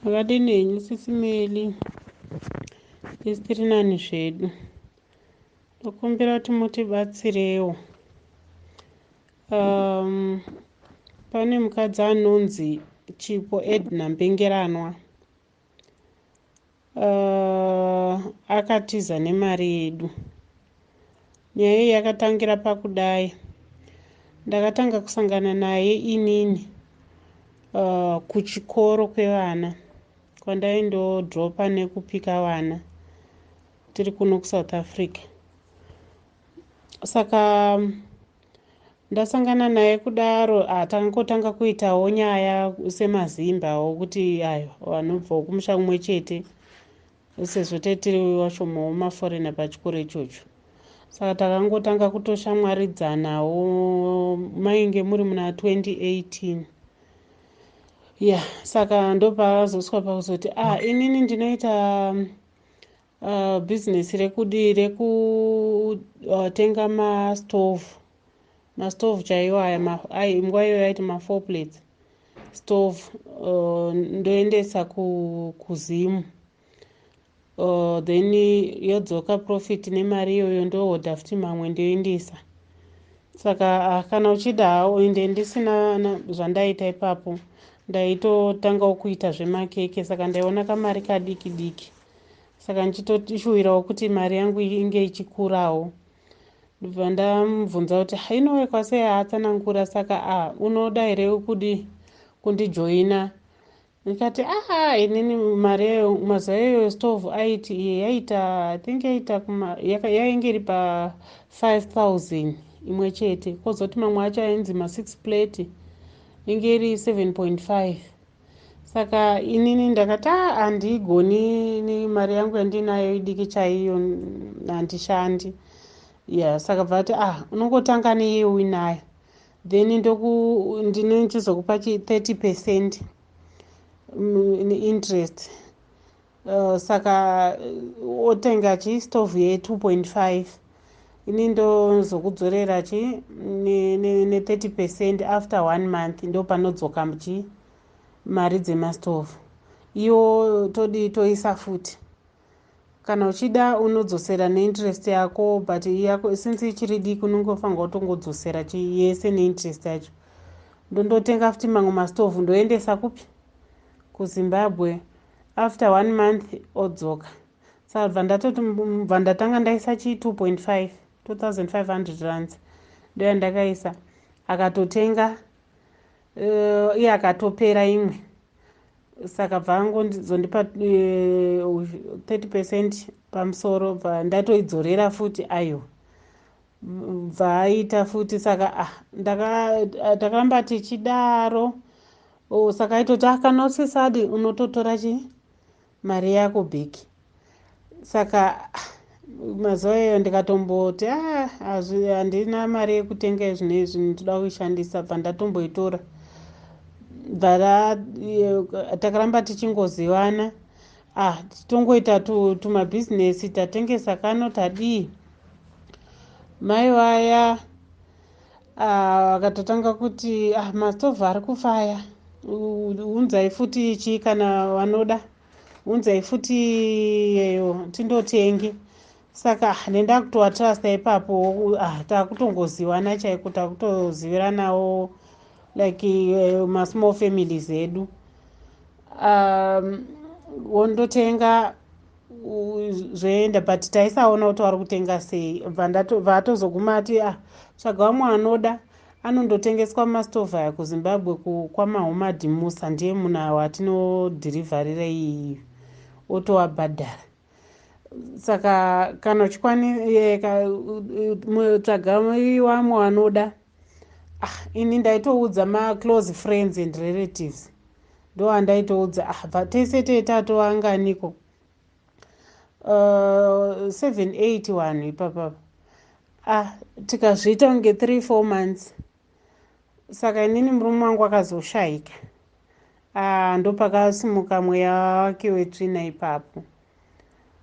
Makadini henyu sisi Meli? Isu tiri nani zvedu. Ndokumbira kuti mutibatsirewo. Um, pane mukadzi anonzi Chipo Edna Mbengeranwa. Uh, akatiza nemari yedu. Nyaya iyi yakatangira pakudai. Ndakatanga kusangana naye inini uh, kuchikoro kwevana kwandaindodropa nekupika vana tiri kuno kusouth africa saka ndasangana naye kudaro ah, takangotanga kuitawo nyaya semazimbawo kuti ayo vanobvawo kumusha kumwe chete sezvo taitiri washomawo maforena pachikoro ichocho saka takangotanga kutoshamwaridzanawo mainge muri muna 2018 ya yeah, saka ndopaazoswa pakuzoti ah inini ndinoita Uh, business rekudi rekutenga uh, mastove mastove chaiwo aya nguva iyoyo aiti mafour plates stove uh, ndoendesa kuzimu uh, then yodzoka profit nemari iyoyo ndohodha futi mamwe ndoendesa saka ah, kana uchida haoende ndisina zvandaita ipapo ndaitotangawo kuita zvemakeke saka ndaiona kamari kadiki diki saka ndichitoshuwirawo kuti mari yangu inge ichikurawo ndobva ndamubvunza kuti hainowe kwase yaatsanangura saka a ah, unoda here kudi kundijoina ndikati aha inini mari yayo mazuva iyoyo stove aiti iye yaita i think yaita yainge iri pa 5000 imwe chete kozoti mamwe acho ainzi ma6 plate inge iri 7.5 saka inini ndakati a ah, handigoni ni mari yangu yandinayo idiki chaiyo handishandi ya yeah, saka bva ati ah unongotanga neye uinayo then ndinochizokupa chi 30 percent mm, interest Uh, saka uh, otenga chi stove ye 2.5 ini ndozokudzorera chi ne30 percent after one month ndopanodzoka chi mari dzemastove iyo todi toisa futi kana uchida unodzosera neinterest yako but yako since ichiri diki unongofanirwa kutongodzosera chi yese neinterest yacho ndondotenga futi mamwe mastove ndoendesa kupi kuzimbabwe after one month odzoka sabva ndatoti bva ndatanga ndaisa chii 2.5 2500 rands ndo yandakaisa akatotenga uh, iye akatopera imwe saka bva angozondipa uh, eh, 30 percent pamusoro bva ndatoidzorera futi ayo bvaaita futi saka ah, ah takaramba tichidaro oh, saka aitoti ah, kana usisadi unototora chi mari yako big saka ah, mazuva iyoyo ndikatomboti ah, handina mari yekutenga izvino izvi ndinoda kuishandisa bva ndatomboitora bva takaramba tichingozivana ah tongoita tumabhizinesi tatengesa kano tadii mai vaya ah, vakatotanga uh, kuti ah, mastove ari kufa aya unzai futi chii kana vanoda unzai futi yeyo tindotenge saka ah, nendakutoatrasta ipapo ah, takutongoziwana chaiko takutoziviranawo like uh, masmall families edu um, wondotenga zvoenda but taisaona kuti wari kutenga sei bvaatozoguma ati ah tsvaga vamwe anoda anondotengeswa mumastove aya kuzimbabwe kwamahomadi musa ndiye munhu awo atinodhirivharira iyiyo otoabhadhara saka kana uchikwanisatsvaga vamwe vanoda ah ini ndaitoudza maclose friends and relatives ndo andaitoudza ah bva tese tee tatoanganiko uh, seven eight vanhu ipapapa ah tikazviita kunge three four months saka inini murume wangu akazoshayika ah ndopakasimuka mweya wake wetsvina ipapo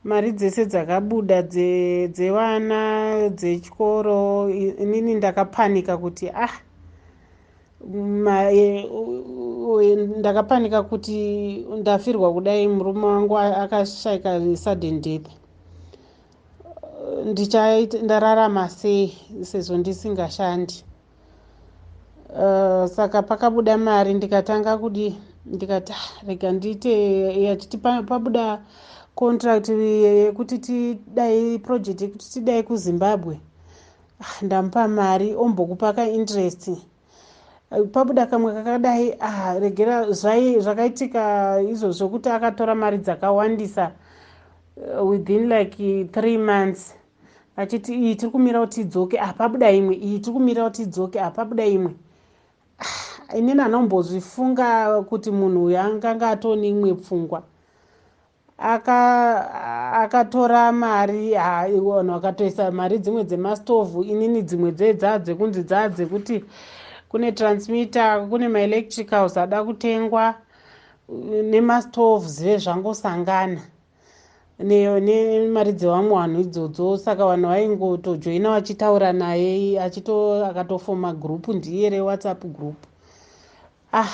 mari dzese dzakabuda dzevana dze dzechikoro inini ndakapanika kuti ah e, ndakapanika kuti ndafirwa kudai murume wangu akashaika sudden death ndichaita ndararama sei sezvo ndisingashandi uh, saka pakabuda mari ndikatanga kudi ndikati ah, rega ndiite yachiti pabuda contract yekuti tidai project yekuti tidai kuzimbabwe ah, ndamupa mari ombokupa ka interest pabuda kamwe kakadai ah, regera zvakaitika izvo zvokuti akatora mari dzakawandisa uh, within like three months vachiti iyi tiri kumira kuti idzoke ah pabuda imwe iyi tiri kumira kuti idzoke ah pabuda imwe ah, inini anombozvifunga kuti munhu uyo anganga atone imwe pfungwa akatora aka mari ah, vanhu vakatoisa mari dzimwe dzemastovhu inini dzimwe dzedzaa dzekunzi dzaa dzekuti kune transmitter kune maelectricals ada kutengwa nemastoves vezvangosangana nemari dzevamwe vanhu idzodzo saka vanhu vaingotojoina vachitaura naye achito akatofoma group ndiye rewhatsapp group ah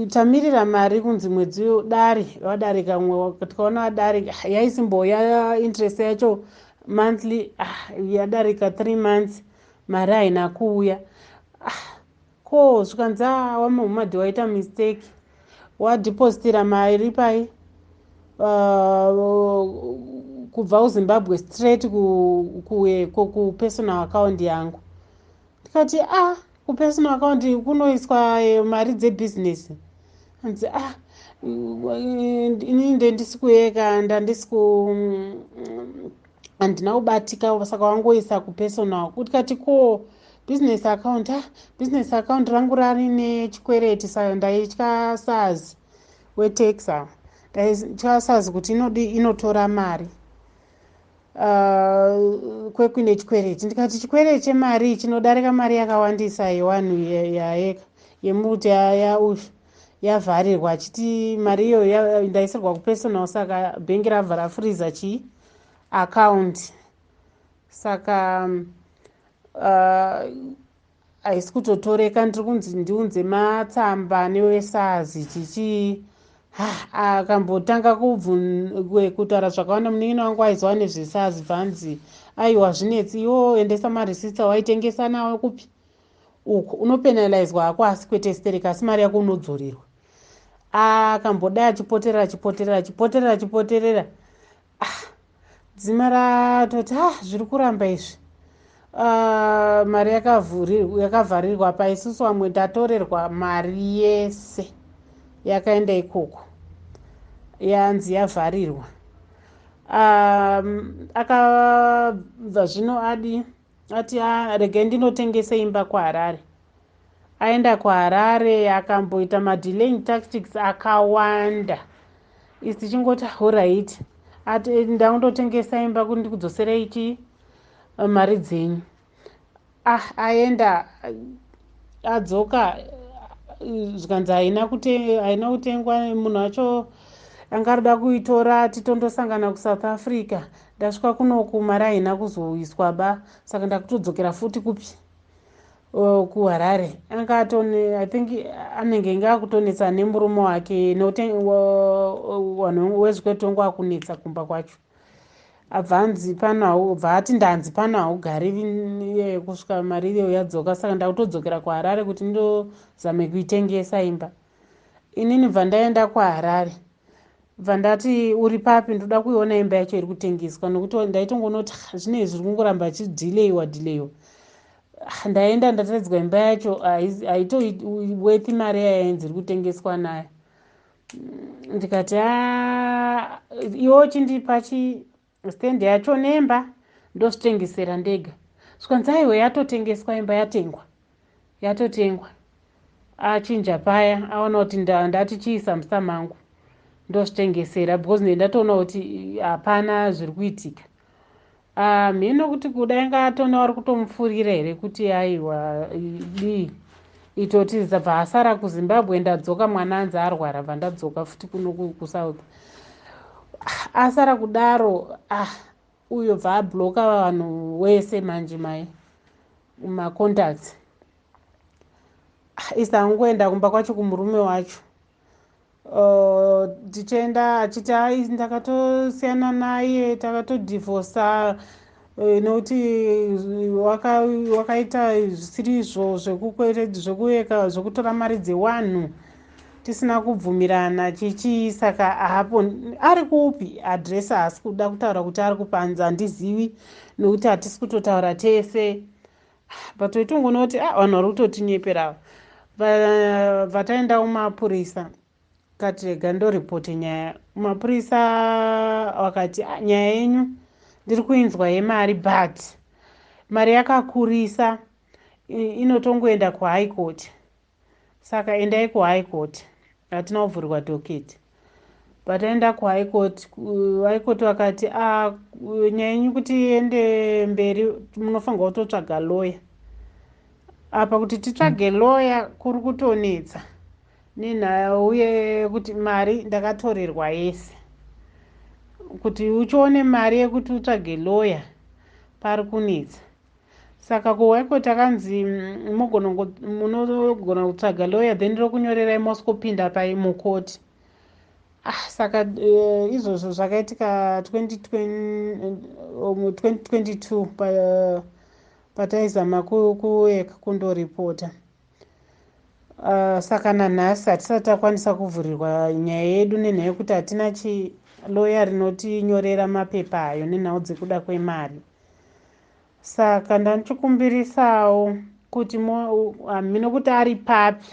tamirira mari kunzi mwedzi dare vadarika mwe tikaona vadarika ah, yaisimboya interest yacho monthly ah, yadarika three months mari haina kuuya ah, Ko zvikanzi aa waMuhammad waita mistake wadepositira mari pai uh, kubva kuZimbabwe straight kueko ku, ku personal account yangu ndikati ah kupersonal account kunoiswa eh, mari dzebusiness anzi ah ini ndendisi kuyeka ndandisi ku mm, handina kubatika saka wangoisa kupersonal kutikati ko business account ah business account rangu rari nechikwereti sayo ndaitya sars wetex awa ndaitya sars kuti inodi inotora mari uh, kwekuine chikwereti ndikati chikwereti chemari chinodarika mari yakawandisa yewanhu yaeka yemuti yausha yavharirwa achiti mari iyoyo ndaisirwa kupersonal saka bhengi rabva rafuriza chii account saka uh, haisi uh, kutotoreka ndiri kunzi ndiunze matsamba newesazi chichii akambotanga kutaura zvakawanda munin'ina wangu aiziva nezvesazi bvanzi aiwa zvinetsi iwo endesa marisitsa waitengesa nawo kupi uko unopenalizwa hako asi kwete stereka asi mari yako unodzorirwa akambodai ah, achipoterera achipoterera achipoterera achipoterera ah, dzima ratoti ah zviri kuramba izvi ah, mari yakavharirwa pa isusu vamwe tatorerwa mari yese yakaenda ikoko yanzi yavharirwa ah, akabva zvino adi ati a regai ndinotengese imba kuharare aenda kuharare akamboita madelaying tactics akawanda is tichingoti horit ati eh, ndakundotengesa imba kuti ndikudzoserei chii eh, mari dzenyu ah aenda adzoka zvikanzi haina kutengwa munhu wacho anga arida kuitora titondosangana kusouth africa Ndasvika kuno ku mari haina kuzoiswa ba saka ndakutodzokera futi kupi uh, ku Harare. Anga atone I think anenge inge akutonetsa nemurume wake nekuti wanhu wezvikwetongo akunetsa kumba kwacho. Abva anzi pano hau bva ati ndanzi pano haugari iye kusvika mari iyo yadzoka saka ndakutodzokera ku Harare kuti ndozame kuitengesa imba. Inini bva ndaenda ku Harare. bva ndati uri papi ndoda kuiona imba yacho iri kutengeswa nokuti ndaitongonoti zvinei zviri kungoramba chidileiwa dileiwa ah, ndaenda ndatadzwa imba yacho haitoworth mari yayainzi iri kutengeswa nayo mm, ndikati ah, iwo chindipa chi Stand yacho nemba ndozvitengesera ndega. Zvikanzi aiwa yatotengeswa imba yatengwa. Yatotengwa. Achinja paya aona kuti ndati chii samusa mangu. Ndozvitengesera because ndiye ndatoona kuti hapana zviri kuitika. Ah, mheno kuti kuda inga atona wari kutomufurira here kuti aiwa dii. Itoti ndabva asara kuzimbabwe ndadzoka mwana anzi arwara bva ndadzoka futi kuno kusouth ah, asara kudaro ah uyo bva abloka vanhu wese manje mai macontacts ah, isa angoenda kumba kwacho kumurume wacho Uh, tichienda achiti hai ndakatosiyana naye takatodivhosa eh, nokuti wakaita zvisiri izvo zvekuveka zvekutora mari dzewanhu tisina kubvumirana chichii saka hapo ari kupi adresi haasi kuda kutaura kuti ari kupanza handizivi nokuti hatisi kutotaura tese but wetongonoti ah, vanhu vari kutotinyepera ava vataendawo mapurisa kati rega ndoripote nyaya mapurisa vakati ah, nyaya yenyu ndiri kuinzwa yemari but mari yakakurisa inotongoenda kuhigh court Saka endai ku high court. Hatina kuvhurirwa docket. Pataenda ku high court, high court vakati ah nyaya yenyu kuti iende mberi munofanirwa kutotsvaga lawyer. Apa kuti titsvage mm. lawyer kuri kutonetsa nenhaya uye kuti mari ndakatorerwa yese. Kuti uchione mari yekuti utsvage lawyer pari kunetsa. saka ko why ko takanzi mm, munogona kutsvaga lawyer then rokunyorerai moskopinda pai mukoti ah saka uh, izvozvo zvakaitika 2022 um, pa, uh, pataizama kuek kundoripota uh, saka nanhasi hatisati takwanisa kuvhurirwa nyaya yedu nenhaya yekuti hatina chi loya rinotinyorera mapepa ayo nenhau dzekuda kwemari saka ndanichikumbirisawo kuti hamhino kuti ari papi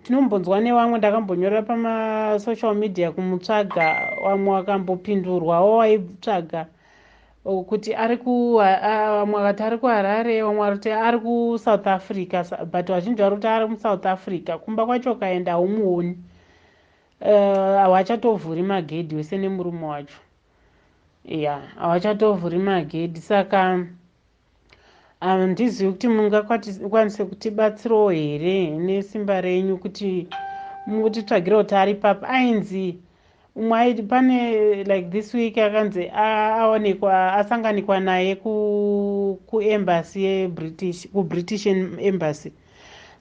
tinombonzwa nevamwe ndakambonyorera pamasocial media kumutsvaga vamwe vakambopindurwawo waitsvaga kuti ari vamwe vakati ari kuharare vamwe varikuti ari kusouth africa but vazhinji vari kuti ari musouth africa kumba kwacho ukaenda haumuoni eh, havachatovhuri magedhi wese nemurume wacho ya havachatovhuri magedhi saka handizivi kuti mungakwanise kutibatsirawo here nesimba renyu kuti mutitsvagire kuti ari papi ainzi umwe aiti pane like this week akanzi aonekwa asanganikwa naye kuembassy yebritish kubritish embassy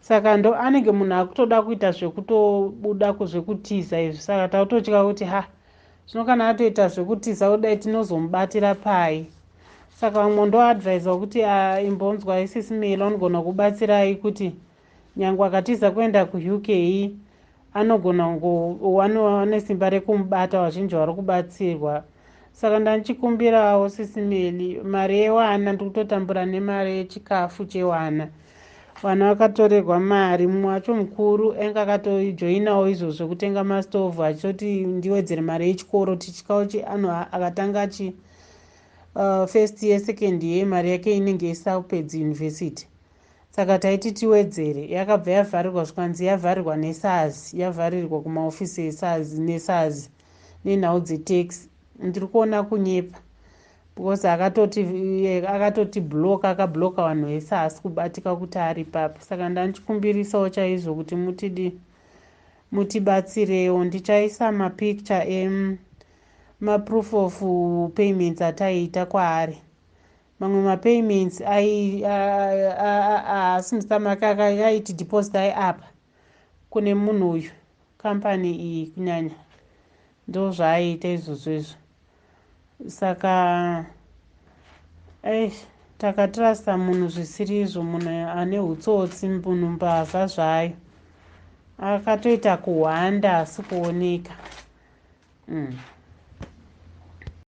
saka ndo anenge munhu akutoda kuita zvekutobuda kuzvekutiza izvi saka takutotya kuti ha zvino kana atoita zvekutiza kudai tinozomubatira pai saka vamwe ndoadvisor kuti ah, imbonzwai sisi milo anogona kubatsirai kuti nyange akatiza kuenda kuuk anogona wane simba rekumubata vazhinji vari kubatsirwa saka ndandichikumbirawo sisi mili mari yewana ndikutotambura nemari yechikafu chewana vanhu vakatorerwa mari mumwe wacho mukuru ainge akatojoinawo izvo zvekutenga mastove achitoti ndiwedzere mari yechikoro tichityawo chi anhu akatanga achi uh, first year second year mari yake inenge isapedzi university saka taiti tiwedzere yakabva yavharirwa zvikanzi yavharirwa nesars yavharirwa kumaofisi esars nesars nenhau dzetax ndiri kuona kunyepa because akatoti akatoti block akabloka vanhu vese haasi kubatika kuti ari papi saka ndandichikumbirisawo chaizvo kuti mutidi mutibatsirewo ndichaisa mapicture em maproof of payments ataiita kwaari mamwe mapayments haasi musamaka akaiti deposit ai apa kune munhu uyu kambani iyi kunyanya Ndozvaaiita izvozvo izvo saka eish takatrusta munhu zvisiri izvo munhu ane utsotsi munhu mbavha zvayo akatoita kuhwanda asi kuoneka mm.